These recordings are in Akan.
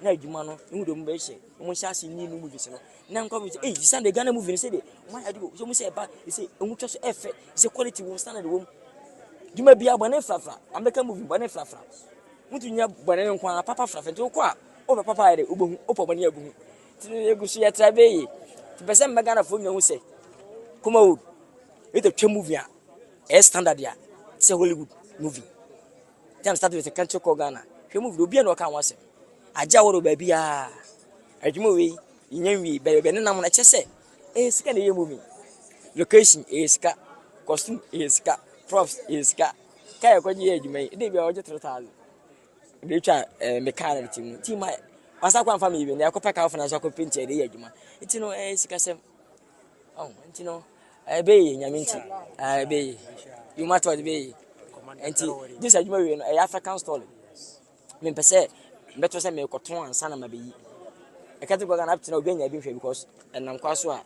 na adwuma no mu de mu bɛhyɛ wɔn hyɛ ase ni no mu gyesɛ no na nkɔ bi sɛ eyi sisa de Ghana movie no sɛ de wɔn ayɛ de o sɛ wɔn sɛ ɛba sɛ wɔn twɛ so ɛfɛ sɛ quality wɔm standard wɔm dwuma bi abɔ ne frafra American movie bɔ ne frafra wɔn tu nyɛ bɔ ne nko ara papa frafra nti wɔkɔ a wɔpɛ papa ayɛ de wɔbɔ hu wɔpɔ bɔ ne agu hu ti no egu so yɛ tra bɛ yie ti pɛ sɛ mbɛ Ghana fo nyɛ ho sɛ kɔma wo ɛtɛ twɛ movie a ɛyɛ standard a sɛ Hollywood movie. James Tadros nka nkyerɛ kɔɔ Ghana. Hwɛ mu video, obiara na ɔka ho asɛm. Agye awɔre wɔ baabiara. Adwuma wei, yɛnya nwie. Bɛyɛ bɛne nam no, ɛkyɛ sɛ, ɛyɛ sika na ɛyɛ mu me. Location, ɛyɛ sika. Costume, ɛyɛ sika. Props, ɛyɛ sika. Ka yɛ kɔgye yɛ adwuma yi, ɛdɛ bi a ɔgye 3,000. Ɛdɛ twa eh, me kaa na de tim no. Tim a, wasa kɔ amfa me even, ɛkɔpɛ kaa ɔfana nso akɔpɛ nti ɛde yɛ adwuma. Nti no, ɛyɛ sikasɛm. Oh, nti no, ɛbɛyɛ nyame nti, ɛbɛyɛ you matter ɔde bɛyɛ nti this adwuma wie no ɛyɛ African story. Mempɛ sɛ mbɛto sɛ mekɔtɔn ansa na mabɛyi. Ɛka ti kɔkan up to now obi anya bi nhwɛ because ɛnam kwa so a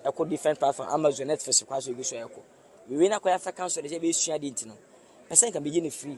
ɛkɔ different platform Amazon, Netflix kwa so ebi so ɛkɔ. Wie na kɔ African story sɛ bɛsua de nti no. Pɛ sɛ nka bɛyi no free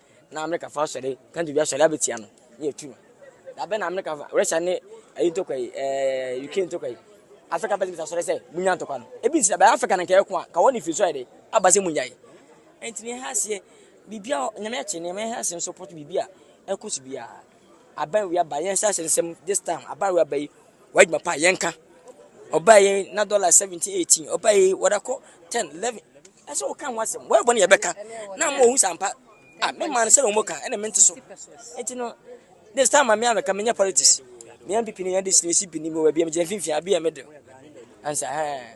Na Amerika fa sɔre kanti bi asɔre abɛtia no ne yɛtu no da bɛ na Amerika fa Russia ne ayi ntɔkwa yi ɛɛ Ukraine ntɔkwa yi Afrika bɛsi bisa sɔre sɛ munya ntɔkwa no ebi nsira bɛyɛ Afrika na nkɛyɛ ko a ka wɔn ne firi so ayɛ de aba sɛ munya yi ɛnti ne ɛha aseɛ biribi a nyame akyi ne ɛma ɛha aseɛ nso pɔtɔ biribi a ɛkɔ so biara Aban wia ba yɛn hyɛ nsɛm this time aban wia ba yi wɔyɛ adwuma pa yɛn ka ɔbaa yi na dollar seventeen eighteen ɔbaa yi wɔda kɔ ten eleven ɛsɛ wɔka ho asɛm wɔyɛ bɔ no yɛbɛka na ama wɔn sampa a me maa no sɛ wɔn ka ɛna me nte so eti no this time maame a meka menyɛ politics me npp ne yɛn de sinisi bi ni mo wɔ bi a megyina mfimfini abi a me de ansa ɛɛ.